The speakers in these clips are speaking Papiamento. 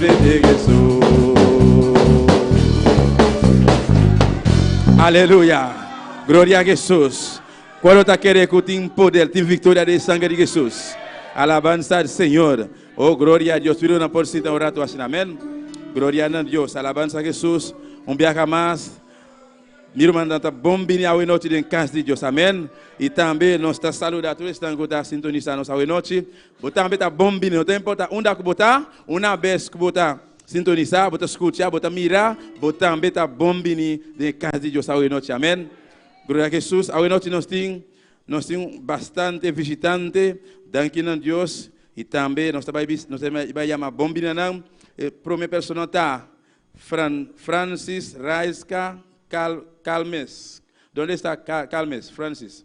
Bendiga Hesus. Aleluya. Gloria a Hesus. Cual lo ta kere cu tin poder, tin victoria den e sangre di Hesus? Alabanza al Señor. Oh, gloria a Dios. Tur irmannan por sinta un rato asina. Amen. Gloria na Dios. Alabanza a Hesus. Un biaha mas mi rumannan ta bon bini awe nochi den cas di Dios. Amen. Y tambe nos ta saluda tur esnan cu ta sintonisa nos awe nochi. Bo tambe ta bon bini. No ta importa unda ku bo ta, una bes ku bo ta sintonisá, bo ta skucha, bo ta mira, bo tambe ta bon bini den e kas di Dios awenoti. Amèn. Gloria a Hesus. Awenoti nos tin, nos tin bastante vishitante. Danki nan Dios. I tambe nos ta bai bis, nos ta bai yama bon bini na nan. E promé personanan ta, Fran, Francis, Raiska, Cal, Calmes. Donde esta Ca, Calmes, Francis?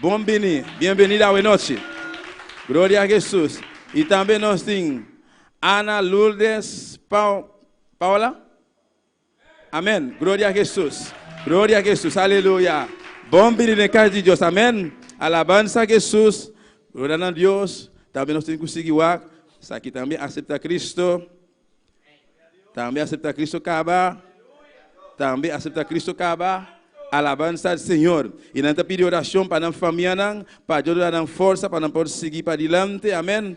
Bon bini, bienvenida awe nochi. Gloria a Jesus. Y tambe nos tin Ana Lourdes Paola. Amen. Gloria a Jesus. Gloria a Jesus. Aleluya. Bon bini den cas di Dios. Amen. Alabansa Jesus. Gloria na Dios. Tambe nos tin cu sigui wak. Esaki tambe acepta Cristo. Tambe asepta Kristu kaba, tambe asepta Kristu kaba. Alabansa al Señor. Y nan ta pidi oracion pa nan famianan, pa Dios duna nan forsa pa nan por sigui padilante. Amen.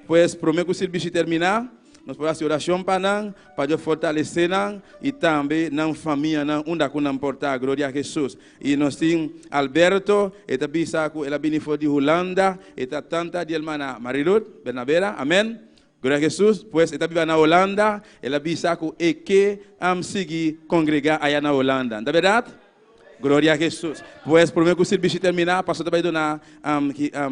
Pues, prome cu sirbishi termina, nos por haci oracion pa nan, pa Dios fortalece nan y tambe nan famianan unda cu nan por ta. Gloria a Jesús. Y nos tin Alberto, e ta bisa cu el a bini for di Hulanda, e ta tanta di hermana Marilud Bernabera. Amen. Guna Jesus, pues e ta biba na Holanda, el a bisa cu e ke am sigui congrega aya na Holanda. Nta berdad? Gloria a Jesus! Pues, prome cu sirbishi termina, pastor ta bai duna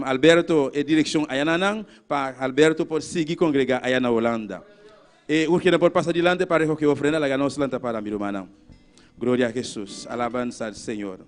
Alberto e direccion aya na nan, pa Alberto por sigui congrega aya na Holanda. E ur kinan por pasa dilanti pa recoge e ofrenda, laga nos lanta para mi rumannan. Gloria a Jesus! Alabansa al Señor!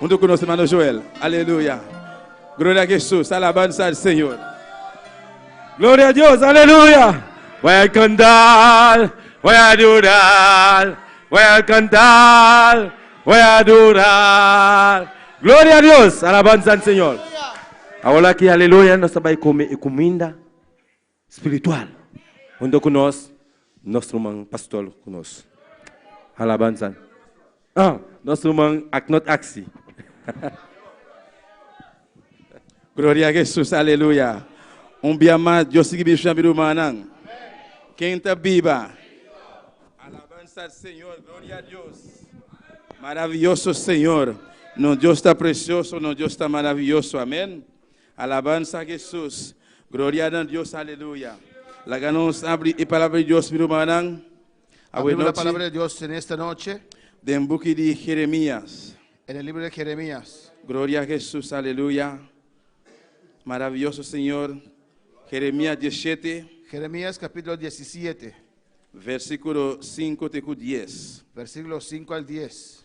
Huntu ku nos hermano Joel. Aleluya. Gloria a Jesus. Alabansa al Señor. Gloria a Dios. Aleluya. Voy a cantar, voy a adorar, voy a cantar, voy a adorar. Gloria a Dios. Alabansa al Señor. Awor aki, aleluya, nos ta bai come e cuminda. spiritual. Hunto ku nos, nos ruman pastor ku nos. Alabansa. Oh, nos ruman Aknot Aksi. Gloria a Jesus, aleluya. Un bia mas Dios sigui bendishoná mi rumannan. Ken ta biba? Alabansa al Señor, gloria a Dios. Maravioso Señor, nos Dios ta precioso, nos Dios ta maravioso, amen. Alabansa Jesus, Gloria na Dios Aleluya. Laga nos abri e palabra di Dios mi rumannan. Abrimos la palabra di Dios en esta noche. Den buki di Jeremias. En el libro de Jeremias. Gloria Jesus Aleluya. Maraviyoso Señor. Jeremias die shete. Jeremias capítulo die siete. Versiculo sinku te ku dies. Versiculo sinku al dies.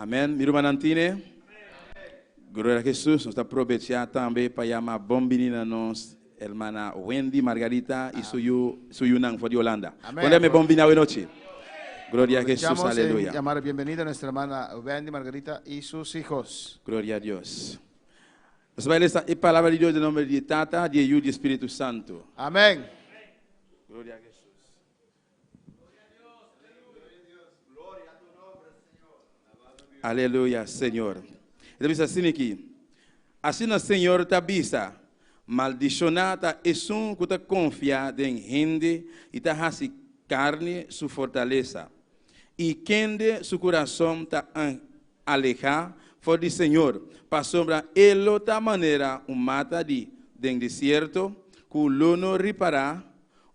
Amen mi rumannan tine? Gloria a Hesus nos ta probecha tambe pa yama bon bini na nos hermana Wendy Margarita y su yu su yunan for di Holanda con rem'e bon bini awe nochi Gloria a Hesus Aprovechamos en aleluya yama de bienvenida a nuestra hermana Wendy Margarita y sus hijos. Gloria a Dios nos bai lesa e palabra di Dios den nomber di e Tata di e Yu di e Spiritu Santo. Amen. Gloria a Hesus. Aleluya Señor. E ta bisa asina aki, Asina Señor ta bisa, Maldishoná ta esun ku ta konfia den hende i ta hasi karni su fortalesa, i kende su kurason ta alehá for di Señor, pasobra e lo ta manera un mata di den desierto ku lo no ripará,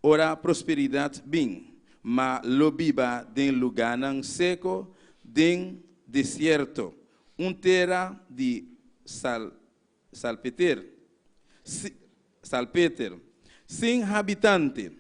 Ora prosperidat bin, ma lo biba den lugánan seko den desierto, un tera di salpeter, si, salpeter, sin habitante.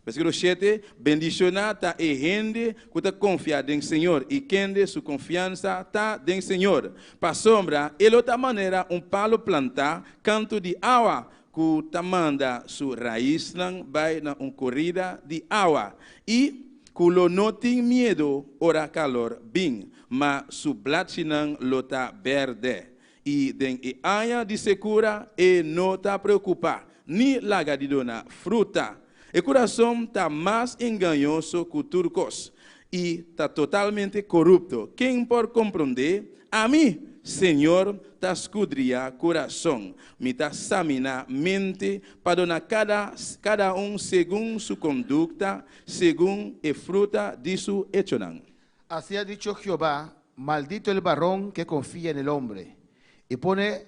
Versikulo shete, Bendishoná ta e hende ku ta konfia den Señor i kende su konfiansa ta den Señor, pasobra e lo ta manera un palu plantá kantu di awa Ku ta manda su raisnan bai na un korida di awa, i ku lo no tin miedu ora kalor bin, ma su blachinan lo ta bèrdè, i den e aña di sekura e no ta preokupá ni laga di duna fruta, E kurason ta mas engañoso ku tur kos, i ta totalmente korupto. Ken por komprond'é? Ami, Señor, ta skudriá kurason, mi ta saminá mente, pa dona kada kada un segun su kondukta, segun e fruta di su echonan. Así a dicho Jehová, Maldito el baron ke konfia n'el ombre, i pone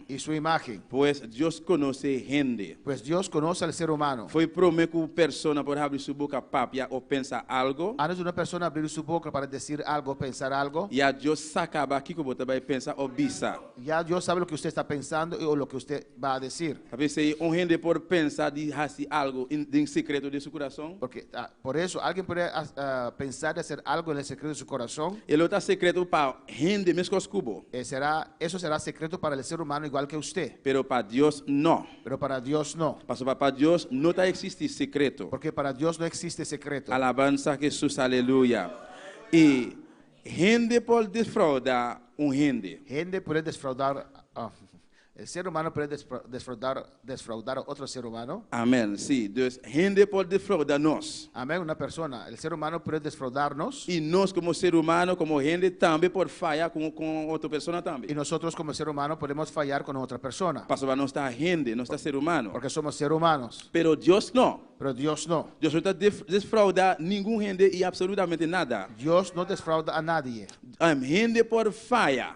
I su imágen. Pues Dios conoce e hende. Pues Dios conoce el ser humano. Fo'i prome cu un persona por habri su boca papia o pensa algo. Antes di una persona habri su boca para decir algo o pensar algo. Ya Dios sa caba kico bo ta bai pensa o bisa. Ya Dios sabe loke usted sta pensando i o loke usted ba a decir. Tapi esei un hende por pensa di haci algo den secreto den su curason. Porque ta por eso, alguien puede pensar di hacer algo en el secreto di su corazon. E lo ta secreto pa hende mescos cu bo. E será, eso será secreto para el ser humano igual que usté. Pero pa Dios no. Pero para Dios no. Pasobra pa Dios no ta existi secreto. Porque para Dios no existe secreto. Alabansa Jesus aleluya y hende por desfrauda un hende. Hende puede desfraudar. E ser humano puede desfraudar otro ser humano? Amen, si. Dus, hende por desfrauda nos. Amen, una persona, el ser humano, puede desfraudar nos. I nos komo ser humano, komo hende, tambe por faya kon otro persona tambe. I nosotros komo ser humano podemos fayar kon otra persona. Pasobra nos ta hende, nos ta ser humano. Porque somos ser humanos. Pero Dios no. Pero Dios no. Dios no ta desfrauda ningun hende i absolutamente nada. Dios no desfrauda a nadie. Hende por faya.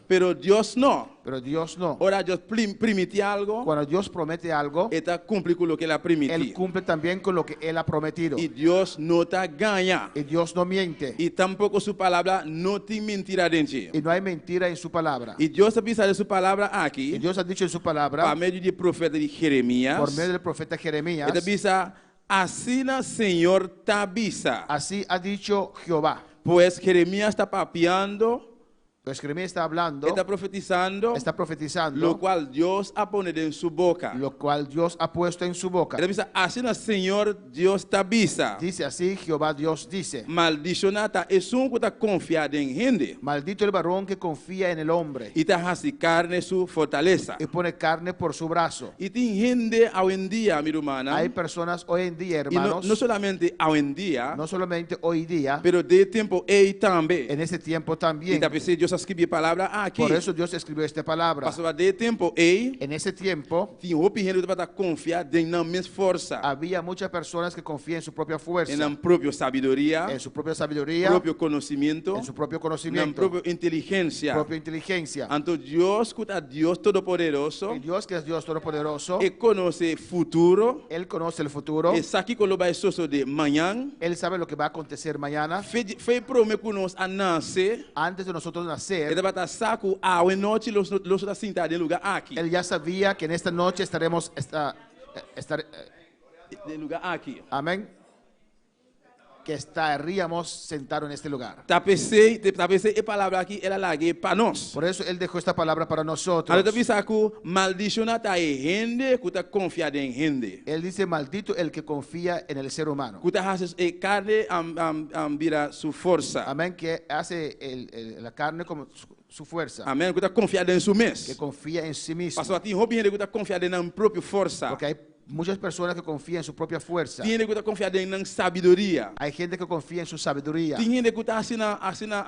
Pero Dios no. Pero Dios no. Ora Dios plim, primiti algo. Cuando Dios promete algo. E ta cumpli cu loke El a primiti. El cumple también cu loke El a prometido. Y Dios no ta gaña. Y Dios no miente. Y tampoco Su Palabra no tin mentira den dje. Y no hay mentira en Su Palabra. Y Dios a bisa den Su Palabra aki. Y Dios a dicho en Su Palabra. Pa medio di profeta di Jeremias. Por medio del profeta Jeremias. El ta bisa, Asina Señor ta bisa. Así ha dicho Jehová. Pues Jeremias ta papiando. Pues Jeremia esta hablando. E ta profetisando. Esta profetisando. Lo cual Dios a pone den su boca. Lo cual Dios a puesto en su boca. E ta bisa, Asina Señor Dios ta bisa. Dice, Asi Jehová Dios dice. Maldicioná ta esun cu ta confia den hende. Maldito el baron que confia en el hombre. Y ta haci carne su fortaleza. Y pone carne por su brazo. I tin hende awendia, mi rumannan. Hay personas hoy en día, hermanos. I no solamente awendia. No solamente hoy día. Pero den e tempo ei tambe. En este tiempo también. I ta p'esei Dios a scribi e palabra aki. Por eso Dios escribió este palabra. Pasobra den e tempo ei. En este tiempo. Tin hopi hende ku tabata konfia den nan mes forsa. Habia mucha personas ke konfia en su propia fuersa. En nan propio sabiduria. En su propia sabiduria. Propio konosimiento. propio nan propio inteligencia. inteligencia. Anto Dios cu ta Dios todopoderoso. E Dios cu es Dios todopoderoso. E conoce futuro. El conoce el futuro. E sa kico lo bay sosode mañan. El sabe loke bay acontecer mañana. Fe, fe prome cu nos a nace. Antes de nosotros nacer. E tabata sa cu awe nochi los, los ta sinta den lugar aki. El ya sabia que en esta noche estaremos, esta, esta, den lugar aki. Amen. Ke sta ria mos sentado n'este lugar. Ta pesey, ta pesey e palabra aki el a lag'é pa nos. Por eso el dejó esta palabra para nosotros. Anto ta bisa ku, Maldishona ta e hende ku ta konfia den hende. El dice, Maldito el ke konfia en el ser humano. Ku ta hasi e karne bira su forsa. Amen, ke hasi la karne komo su fuersa. Amen, ku ta konfia den su mes. Ke konfia en si mismo. Pasobra tin hopi hende ku ta konfia den nan propio forsa. Porque hay Muchas persona ke konfia en su propia fuersa. Tin hende ku ta konfia den nan sabiduria. Hay hende ke konfia en su sabiduria. Tin hende ku ta asina asina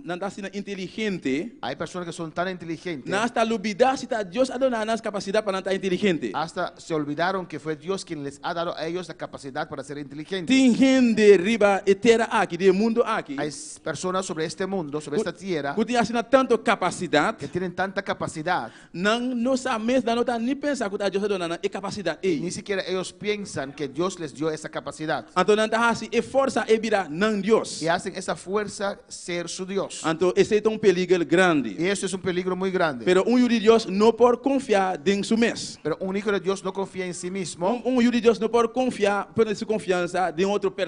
nan ta asina inteligente. Hay persona ke son tan inteligente. Nan hasta lo bida si ta Dios a dona nan kapasidat pa nan ta inteligente. Hasta se olbidaron ke fue Dios kin les a dado a ellos e kapasidat para ser inteligente. Tin hende riba e tera aki, di e mundo aki. Hay persona sobre este mundo, sobre esta tiera. Ku tin asina tanto kapasidat. Ke tinen tanta kapasidat. Nan no sa mes, nan no ta ni pensa ku ta Dios a duna nan e kapasidat ei. Ni sikiera eos piensan ke Dios les dio esa kapasidat. Anto nan ta hasi e forsa ei bira nan Dios. I hasen esa fuersa ser su Dios. Anto esei ta un peliger grandi. I esto es un peligro muy grande. Pero un yu di Dios no por konfiá den su mes. Pero un iko di Dios no konfia en si mismo. Un yu di Dios no por konfiá, pone su konfiansa den otro.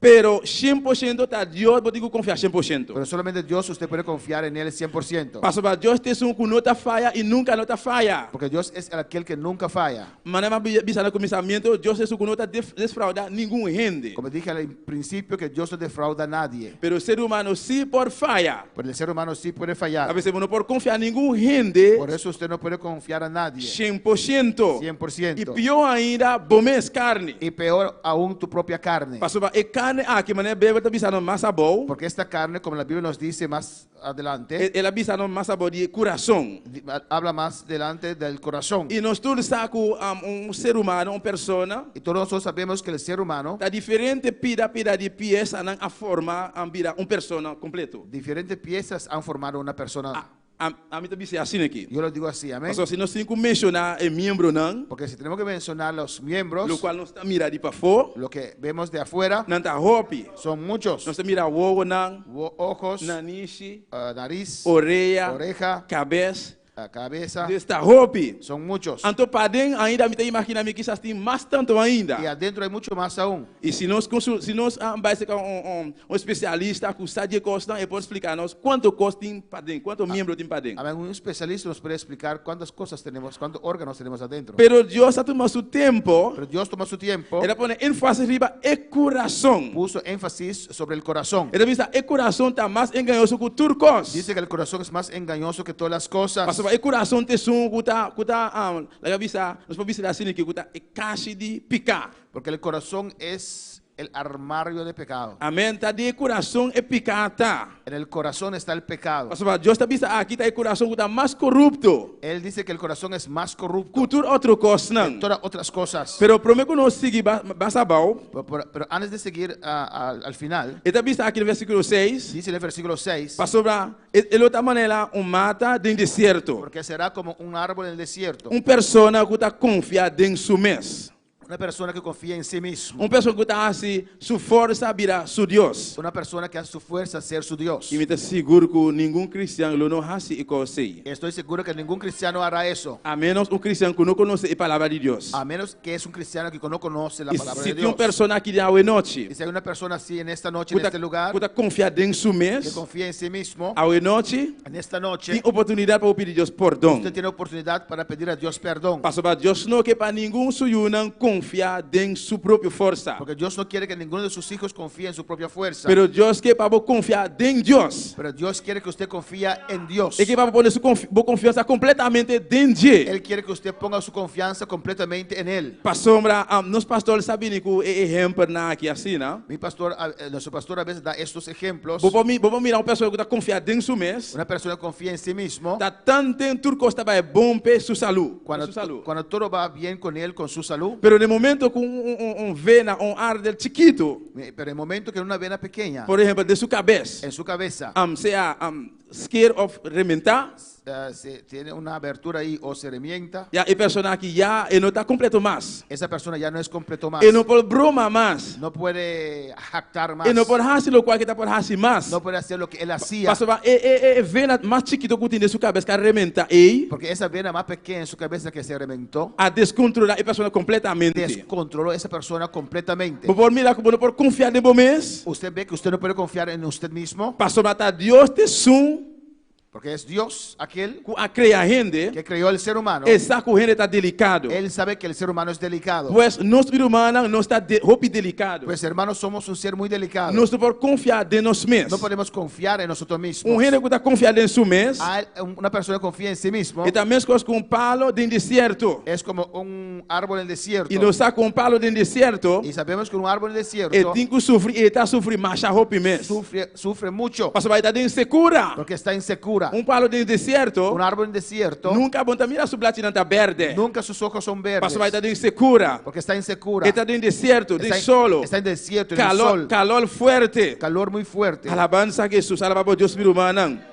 Pero cien por ciento ta Dios bo tin cu confiá cien por ciento. Pero solamente Dios usted puede confiar en el cien por ciento. Pasobra Dios ta Esun cu no ta faya i nunca no ta faya. Porque Dios es el aquel que nunca faya. Manera mi a bi- bisa na cuminsamiento, Dios ta Esun cu no ta def- desfrauda ningun hende. Como dije al principio que Dios no defrauda nadie. Pero ser humano sí por faya. Pero el ser humano si puede fayar. Abes bo no por confiá ningun hende. Por eso usted no puede confiar na nadie. Shen por shento. Cien por ciento. I pior ainda bo mes carni. I peor aun tu propia carni. Pasobra e carni aki, manera Beibel ta bisa nos mas abou. Porque esta carni, como la Biblia nos dice mas adelante. El a bisa nos mas abou di e curason. di a abla mas delante del corazon. I nos tur sa cu un ser humano, un persona. I tur nos tur sabemos cu el ser humano. Ta diferente pida pida di piesa nan a forma a bira un persona completo. Diferente piesas a formado una persona. A, a, a mi ta bis'e asina aki. Yo lo digo asi, amen. Pasobra si nos tin cu menciona e miembronan. Porque si tenemos cu menciona los miembros. Locual nos ta mira di pafo. Lo que vemos di afuera. Nan ta hopi. Son muchos. Nos ta mira wowonan. Wo, ojos. Nanishi. naris, orea, oreha, cabes, cabesa, des ta hopi, son muchos. Anto paden ainda mi ta imagina mi kisas tin mas tanto ainda. Y adentro hay mucho mas aun. Y si nos consul, si nos bai cerca un, un, un especialista cu sa dje cosnan, e por splica nos cuanto cos tin paden, cuanto miembro tin paden. Amen, un especialista nos puede splicar cuantas cosas tenemos, cuanto organos tenemos adentro. Pero Dios a tuma su tempo. Pero Dios tuma su tiempo. E ta pone enfasis riba e curason. Puso enfasis sobre el corazón. E ta bisa, E corazón ta mas engañoso cu tur cos. Dice que el corazón es más engañoso que todas las cosas. Pasobra e corazón ta esun cu ta, cu ta, laga bisa, nos por bisa di asina ke cu ta e cashi di pica. Porque el corazón es el armario de pecado. Amen, ta den e corazón e pica ta. En el corazón está el pecado. Pasobra Dios ta bisa, Aki ta e corazón cu ta mas corupto. El dice que el corazón es más corrupto. Cu tur otro cosnan. Que toda otras cosas. Pero prome cu nos sigui basa bao. Pero antes di seguir al final. E ta bisa aki den versikulo seis. Dice den versikulo seis. Pasobra e lo ta manera un mata den desierto. Porque e sera komo un árbol den desierto. Un persona ku ta konfia den su mes. Una persona ku konfia en si mismo. Un persona ku ta hasi su forsa bira su dios. Una persona ku hasi su fuersa ser su dios. I mi ta sigur ku ningun kristian lo no hasi e kos ei. I estoy seguro ku ningun kristian no hará eso. A menos un kristian ku no konoce e palabra di Dios. A menos. Ke es un kristiano ki no konosi la palabra de Dios? I si tin un persona aki den awe nochi. I si hay una persona asi en esta nochi en este lugar. Ku ta konfia den su mes. Ke konfia en si mismo. Awe nochi. En esta nochi. Tin oportunidat pa bo pidi Dios pordon. Usted tiene oportunidad para pedir a Dios perdon. Pasobra Dios no ke pa ningun su yunan konfia den su propio forsa. Porque Dios no kiere ke ninguno de sus hijos konfia en su propia fuersa. Pero Dios ke pa bo konfia den Dios. Pero Dios kiere ke usted konfia. fia en Dios. E ke p'abo pone su konf, bo konfiansa kompletamente den dje. El kier ku usted ponga su konfiansa kompletamente en el. Pasobra, am, nos pastor sa bini ku e ehempernan aki asina. Mi pastor a, nosso pastor a bes a da estos ehemplos. Bo por mi, bo por mira un persona ku ta konfia den su mes. Una persona ku konfia en si mismo. Ta tan den tur kos ta bai bon p'e su salu, p'e su salu. Kuando, kuando todo ba bien kon el kon su salu. Pero den momento ku un, un, un, un vena o un ardel chikitu. Pero e momento ke Luna bena pekeña. Por ehempel, den su kabes. En su kabesa. Am sea am skeer of rementa. Se tiene una abertura ahi o se remienta. Ya e persona aki ya e no ta kompleto mas. Esa persona ya no es kompleto mas. E no por broma mas. No puede haktar mas. E no por hasi lokual ke ta por hasi mas. No puede hacer loke el hasia. Pasobra e e e vena mas chikito ku tin den su kabes ka rementa ei. Porque esa vena mas pekeña den su kabesa ke se remen. Bo a descontrola e persona completamente. Descontrolo esa persona completamente. Bo por mira cu bo no por confiar den bo mes. Usted be cu usted no puede confiar en usted mismo. Pasobra ta Dios t'esun. Porque es Dios aquel. Cu a crea hende. Que creó el ser humano. E sa cu hende ta delicado. El sabe que el ser humano es delicado. Pues nos bir humannan nos ta hopi delicado. Pues hermanos somos un ser muy delicado. Nos no por confiar den nos mes. No podemos confiar en nosotros mismos. Un hende cu ta confiar den su mes. Una persona konfia en si mismo. I ta meskos ku un palo den desierto. Es komo un árbol den desierto. I nos sa ku un palo den desierto. I sabemos ku un árbol den desierto. E tin ku sufri i e ta sufri masha hopi mes. Sufri sufri mucho. Pasobra e ta den sekura. Porke e sta den sekura. Un palo den desierto. Un árbol den desierto. Nunka bo no ta mira su blachinan ta bèrdè. Nunka su soko son bèrdes. Pasobra e ta den sekura. Porke e sta den sekura. E ta den desierto, den solo. E sta den desierto, den sol. Kalor, kalor fuerte. Kalor muy fuerte. Alabansa Jesus, alaba bo Dios mi rumannan.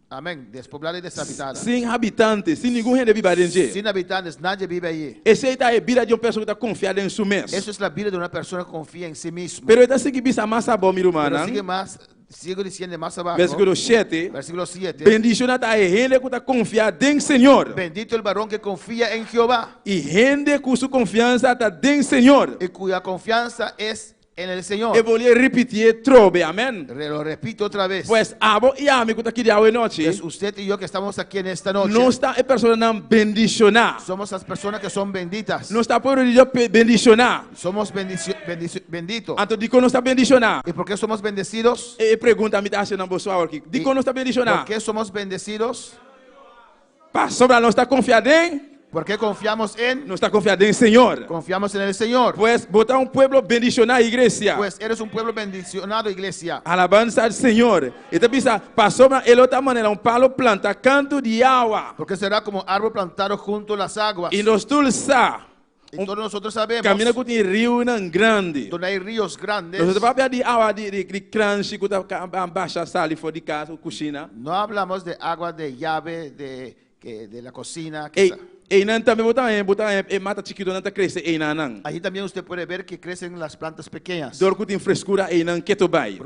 Amen. Despoblá den desabitá-la. Sin habitante, sin ningun hende biba den dje. Sin habitantes, nadje biba ayí. Esei ta e bida di un persoa ku ta konfia den su mes. Eso es la bida di una persona ku konfia en si mismo. Pero e ta sigui bisa mas abao, mi rumannan. Pero sigui mas, sigui disiende mas abako. Versikulo shete, Versikulo siete. Bendishona ta e hende ku ta konfia den Señor. Bendito el baron ke konfia en Jehová. I hende ku su konfiansa ta den Señor. I kuya konfiansa es en el Señor. E bolié ripitié trobe, amén. Re lo repite otra vez. Pues, abo i ami ku ta kiriao e nochi. Pues, usted i yo ku estamos aki en esta noche. Nos ta e personanan bendishoná. Somos as personas que son benditas. Nos ta pueblo di Dios bendishoná. Somos bendici, bendici, bendito. Anto, dikon nos ta bendishoná? I porke somos bendecidos? E e pregunta mi ta hasinan boso awor aki. Dikon nos ta bendishoná? Porke somos bendecidos? Pasobra nos ta konfia den. Porque confiamos en. Nos ta konfia den Señor. Confiamos en el Señor. Pues bo ta un pueblo bendishoná, iglesia. Pues eres un pueblo bendicionado, iglesia. Alabansa al Señor. E ta bisa, Pasobra e lo ta manera un palo planta kantu di yawa. Porque será como árbol plantado junto las aguas. I nos tul sa. Un camina cu tin riunan grandi. Nos ta papia di agua di cranshi cu ta basha sali for di casa, cocina. Eynan tambe bo ta haña, bo ta haña e mata chikitonan ta crece eynannan. Dor cu tin frescura eynan keto bay.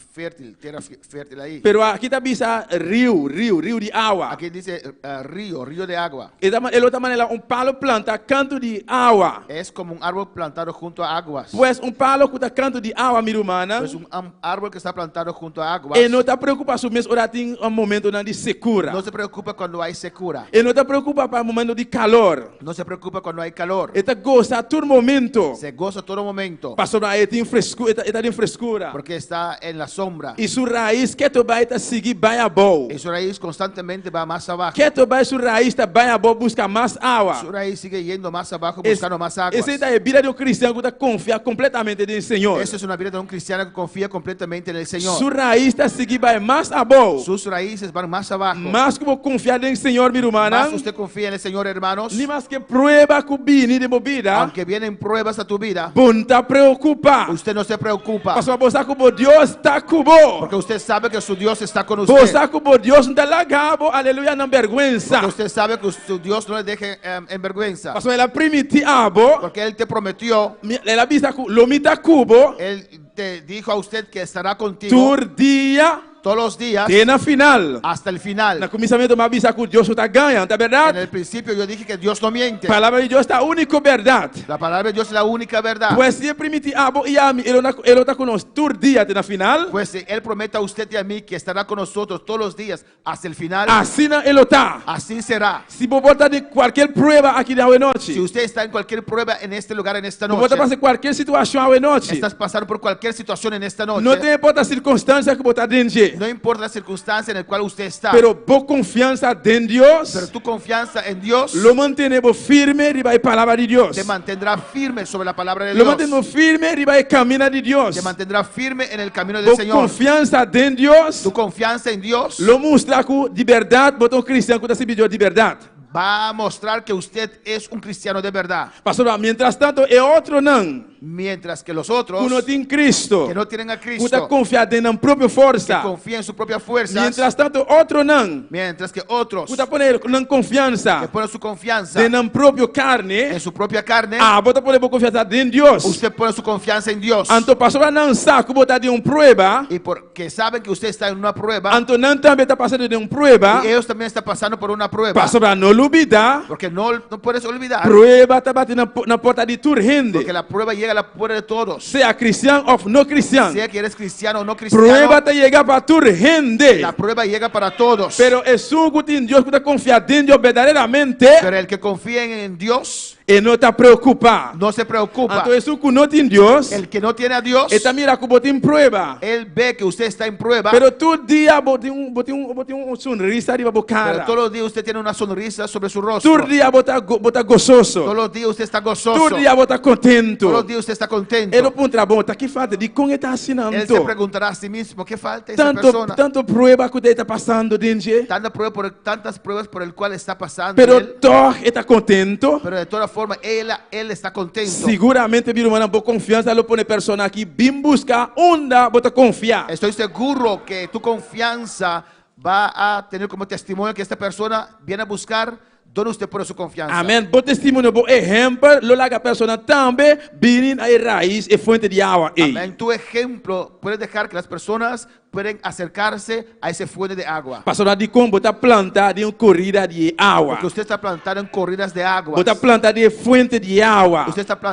fértil, tera fértil ahí. Pero aki ta bisa riu, riu, riu di awa. Aki dice rio, rio de agua. E ta, e lo ta manera un palo planta kantu di awa. Es komo un árbol plantado hunto a aguas. Pues un palo ku ta kantu di awa, mi rumannan. Pues un árbol ke sta plantado hunto a aguas. E no ta preokupa su mes ora tin momentunan di sekura. No se preokupa kuando hay sekura. E no ta preokupa pa momentu di kalor. No se preocupa cuando hay calor. E ta goza tur momento. Se goza todo momento. Pasobra e tin frescu, e ta den frescura. Porque e sta en la sombra. I su raiz keto bai ta sigui bai abou. I su raiz constantemente ba mas abaho. Keto bai su raiz ta bai abou busca mas awa. Su raiz sigue yendo mas abaho buscando mas aguas. Esei ta e bida di un cristian cu ta confia completamente den Señor. Eso es una bida di un. cristiano cu confia completamente n'e Señor. Su raiz ta sigui bai mas abou. Sus raices ban mas abaho. Mas cu bo confia den Señor, mi rumannan. Mas usted confia n'e Señor, hermanos. Ni maske prueba cu bini den bo bida. Aunke bienen pruebas na tu bida. Bo no ta preocupa. Usted no se preocupa. Pasobra bo sa cu bo Dios ta cu bo. Porque usted sabe que su Dios esta con usted. Bo sa cu bo Dios no ta laga bo, aleluya, na berguensa. Porque usted sabe cu su Dios no le dehe enberguensa. Pasobra el a primiti abo. Porque el te prometió. Mi, el a bisa cu, Lo mi ta cu bo. El te dijo a usted que estará contigo. Tur dia. Todos los días. Te na final. Hasta el final. Na cuminsamiento mi a bisa cu Dios no ta gaña, no ta berdad? En el principio yo dije que Dios no miente. Palabra di Dios ta unico berdad. La palabra di Dios es la unica verdad. Pues si e primiti abo y ami, el lo ta cu nos tur dia te na final. Pues si el promete a usted y a mi que estará con nosotros todos los días hasta el final. Asina e lo ta. Así será. Si bo por ta den cualkier prueba aki den awenochi. Si usted está en cualkier prueba en este lugar en esta noche. Bo por ta pasa cualkier situacion awenochi. Estás pasando por cualkier situacion en esta noche. No te importa circunstancia cu bo ta den dje. No importa la circunstancia en el cual usted está. Pero bo confianza den Dios. Pero tu confianza en Dios. Lo mantene bo firme riba e palabra di Dios. Te mantendrá. firme sobre la palabra de Lo Dios. mantennu firme riba e camina di Dios. Te mantendrá firme en el camino del Bo Señor. confiansa den Dios Tu confianza en Dios. lo mustra cu di berdad bo ta un cristian cu ta sirbidior di berdad. Ba mostrar que usted es un cristiano de verdad. Pasobra mientras tanto e otronan Mientras que los otros cu no tin Cristo, que no tienen a cu ta Cristo, confia den nan propio que forsa, confía en su propia fuerza, mientras tanto otronan mientras ke otros ku ta pone nan konfiansa ke pone su konfiansa den nan propio karne, den su propia karne, abo ta pone bo konfiansa den Dios. usted pone su konfiansa en Dios, Anto pasobra nan sa ku bo ta den un prueba, y porque saben que usted está en una prueba, anto nan tambe ta pasando den un prueba, y ellos también está pasando por una prueba, pasobra no lubida, porque no no puedes olvidar, prueba ta bati na na porta di tur hende. porque la prueba llega a la Por e todo. Sea cristian of no cristian. Sea ki eres cristiano o no cristiano. Prueba ta yega pa tur hende. La prueba yega para todos. Pero esun ku tin Dios ku ta konfia den Dios berdaderamente. Pero el ke konfia en Dios. E no ta preokupa. No se preokupa. Anto esun ku no tin Dios. El ke no tiene a Dios. E ta mira ku bo tin prueba. El be ke usted esta en prueba. Pero tur dia bo tin bo tin bo tin un sonrisa riba bo kara. Pero todos los dias usted tiene una sonrisa. sonrisa sobre su rostro. Tur dia bo ta bo ta gososo. Todos los días usted está gozoso. Tur dia bo ta contento. Todos los días usted está contento. E lo puntra bo, ta ki falta? Dicon e ta asinan Él se to? preguntará a sí mismo, ¿qué falta esa Tanto persona? tanto prueba cu ta e ta pasando den dje, Tanta prueba por el- tantas pruebas por el cual está pasando pero él, toch e ta contento. pero de toda forma él, él está contento. Seguramente, mi hermana, bo confianza lo pone persona aki bin busca unda bo ta confia. Estoy seguro que tu confianza Ba a tene komo testimonio ke esta persona bien a buskar dor usted pone su konfiansa. Amen. Bo testimonio, bo ehempel lo laga persona tambe bini na e rais, e fuente di awa ei. Amen. Tu ehemplo puede dehar ke las personas pueden aserkarse a ese fuente di agua. Pasobra dikon bo ta planta den un korida di e awa. Porque usted sta planta den koridas di agua. Bo ta planta den e fuente di awa. Usted sta.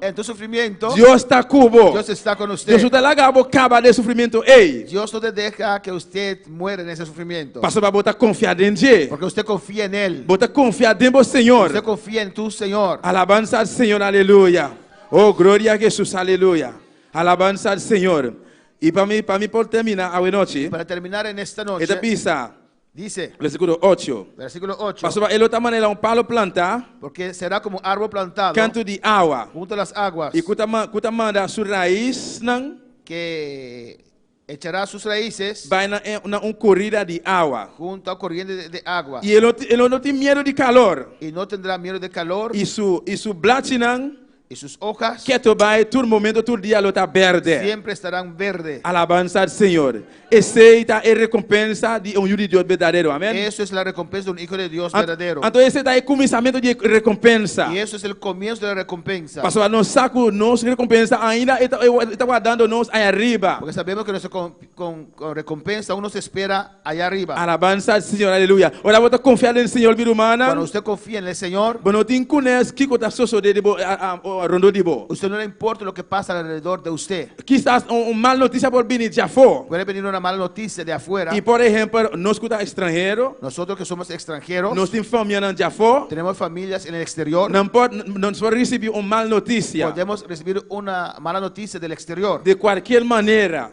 En tur sufrimiento. Dios ta cu bo. Dios esta con usted. Dios no ta laga bo caba den sufrimiento ey. Dios no ta deha que usted muere den ese sufrimiento. Pasobra bo ta confia den dje. Porque usted confia en el. Bo ta confia den bo Señor. Usted confia en tu Señor. Alabanza al Señor aleluya oh gloria a Jesus aleluya alabanza al Señor y pa mi pa mi por termina awe nochi. Y para terminar en esta noche. E ta bisa Dice. Versículo ocho. Versículo ocho. Pasobra e lo ta manera un palo plantá. Porque será como un árbol plantado. Kantu di awa. Hunto las aguas. I ku ta ku ta manda su raisnan. Ke echará sus raises. Bai na e na un korida di awa. Hunto a koriente de agua. I e lo e lo no tin miedo di kalor. I no tendrá miedo de kalor. I su i su blachinan. y sus hojas. Keto bai tur momento tur dia lo ta berde. Siempre estarán verde. Alabansa al Señor. Esey ta e recompensa di e un yu di Dios berdadero. Amen. Eso es la recompensa di un hijo de Dios berdadero. Anto esey ta e cuminsamentu di e recompensa. Y eso es el comienzo de la recompensa. Pasobra nos sa cu nos recompensa ainda e ta guardando nos aña riba. Porque sabemos que nuestro Con recompensa un nos espera aya ariba? Alabansa al Señor, aleluya. Ora bo ta confia den Señor mi rumannan. Cuando usted confia en el Señor. Bo no tin cunes kico ta sosode di bo rondó di bo. Usted no le importa loke pasa alrededor de usted. Kisas un mal noticia por bini dje afó. Puede bini una mal noticia dje afuera. Y por ehempel nos cu ta extranhero. Nosotros que somos extranheros. Nos tin famianan dje afó. Tenemos familias en el exterior. Nan por nos por ricibi un mal noticia. Podemos recibir una mala noticia del exterior. De cualkier manera.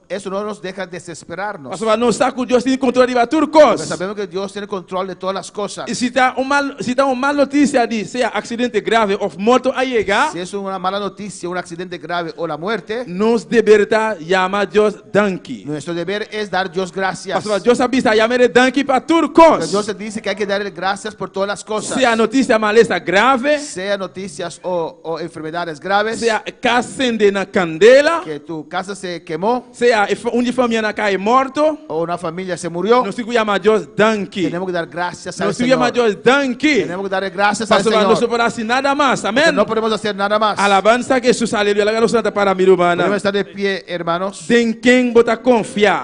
Eso no nos deha desesperar nos. Pasobra nos sa ku Dios tin kontrol riba tur kos. Nos a sabemos ke Dios tene kontrol de todas las cosas. I si ta un mal si ta un mal notisia di sea aksidente grave òf morto a yega. Si es una mala notisia, un aksidente grave o la muerte. Nos deber ta yama Dios danki. Nuestro deber es dar Dios gracias. Pasobra Dios a bisa, Yama el e danki pa tur kos. Porque Dios a dici ke hay ke dar el gracias por todas las cosas. Sea notisia malesa grave. Sea notisias o. O enfermedades graves. Sea e cas sende na candela. Ke tu casa se kemó. Sea e un di famia na cahe morto. O na familia se murió. Nos tin cu yama Dios danki. Tenemo cu dar gracias al Señor. Nos tin cu yama Dios danki. Tenemo cu dare gracias al Señor. Pasobra nos no por haci nada mas. Amen. Porque no podemos hacer nada mas. Alabansa Jesus. Aleluya. Laga nos lanta para mi rumannan. Podemos sta de pie hermanos. Den ken bo ta confia.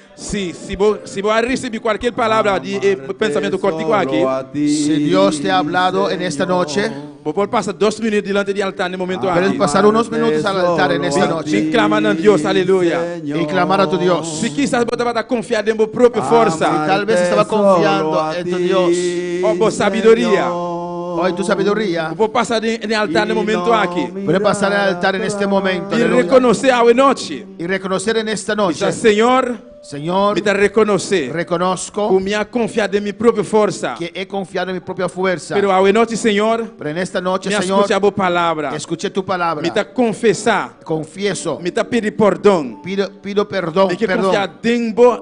Si, si bo, si bo a ricibi cualkier palabra di e pensamiento cortico aki, Si Dios te ha hablado en esta noche. bo por pasa dos minut dilanti di altar na e momento aki. Puedes pasar unos minutos al altar en esta Bin, noche. bin clama na Dios, aleluya. Y clamar a tu Dios. Si kisas bo tabata confia den bo propio forsa, Y tal vez estaba confiando en tu Dios. of bo sabiduria, O en tu sabiduría. bo por pasa den, den altar na e momento aki. Puedes pasar al altar en este momento. Bin Aleluya. reconoce awe nochi. I rekonosé den esta noche. I sa, Señor, Señor, mi ta rekonosé. Rekonosko. Ku mi a konfiá den mi propio forsa. Ke e konfiá den mi propio fuersa. Pero awe nochi, Señor. Pero en esta noche, Señor. Mi a skucha Bo palabra. E skuché Tu palabra. Mi ta konfesá. Konfieso. Mi ta pidi pòrdon. Pido, pido pèrdon, pèrdon. Mi ke konfiá den Bo.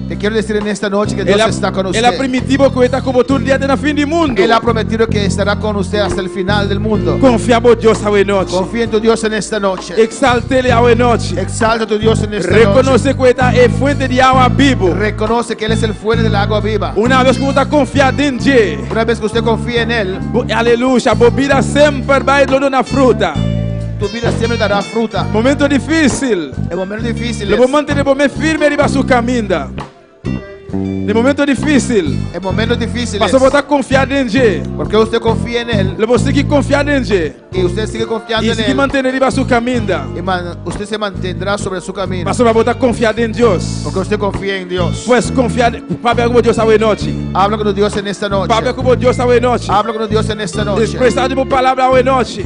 E kier desir en esta nochi ke Dios esta kon usté. El a primití bo ku e ta ku bo tur dia te na fin di mundu. El a prometido ke estará kon usté hasta el final del mundo. Konfia bo Dios awe nochi. Konfia en tu Dios en esta nochi. Eksalt'E li awe nochi. Eksalta tu Dios en esta nochi. Rekonose ku e ta e fuente di awa bibu. Rekonose ke el es el fuente del agua viva. Una bes ku bo ta konfia den dje. Una bes ku usté konfia en el. Bo, aleluya, bo bida semper bai lo duna fruta. Tu bida semper ta da fruta. Momento difisil. Lo bo mantene bo mes firme riba su kaminda den e momentu difisil, pasobra bo ta konfia den dje. Lo bo sigui konfia den dje i sigui mantene riba su kaminda, pasobra bo ta konfia den Dios. Pues, konfia den Dios. Papia ku bo Dios awe nochi. Papia ku bo Dios awe nochi. Despresa di bo palabra awe nochi.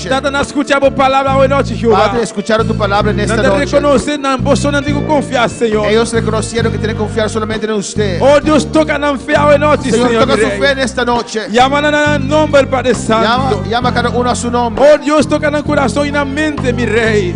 Nan ta scucha bo palabra awe nochi, Jehová. Padre, escucharon tu palabra en esta noche. Nan ta reconoce nan boso nan tin cu confia, Señor. Ellos reconocieron que tienen que confiar solamente en usted. Oh Dios, toca nan fe awe nochi, Señor mi Rey. Señor, toca su fe en esta noche. Llama nan a nan nomber, Padre Santo. Llama, llama cada uno a su nombre. Oh Dios, toca nan corazón y nan mente, mi Rey.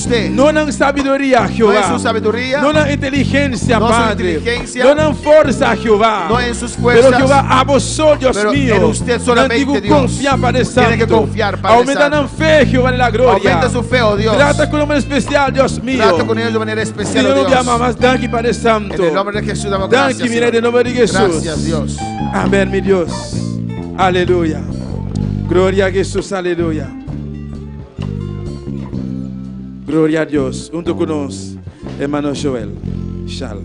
No nan sabiduria, Jehová. No nan inteligencia, Padre. No nan forsa, Jehová. Pero Jehová, abo so, Dios mio. Nan tin ku konfia pa de Santu. Aumenta nan fe, Jehová di la gloria. Trata ku nan manera spesial, Dios mio. Siñor, no bia mas. Danki pa de Santu. Danki, mi Rei, den nomber di Hesus. Amen, mi Dios. Aleluya. Gloria a Hesus. Aleluya. Gloria a Dios hunto cu nos hermano Joel shal.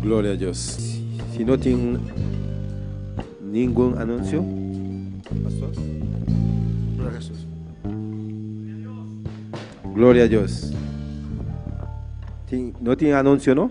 Gloria a Dios. Si no tin ningun anuncio, pastor. Gloria a Jesus. Gloria a Dios. Tin, no tin anuncio no?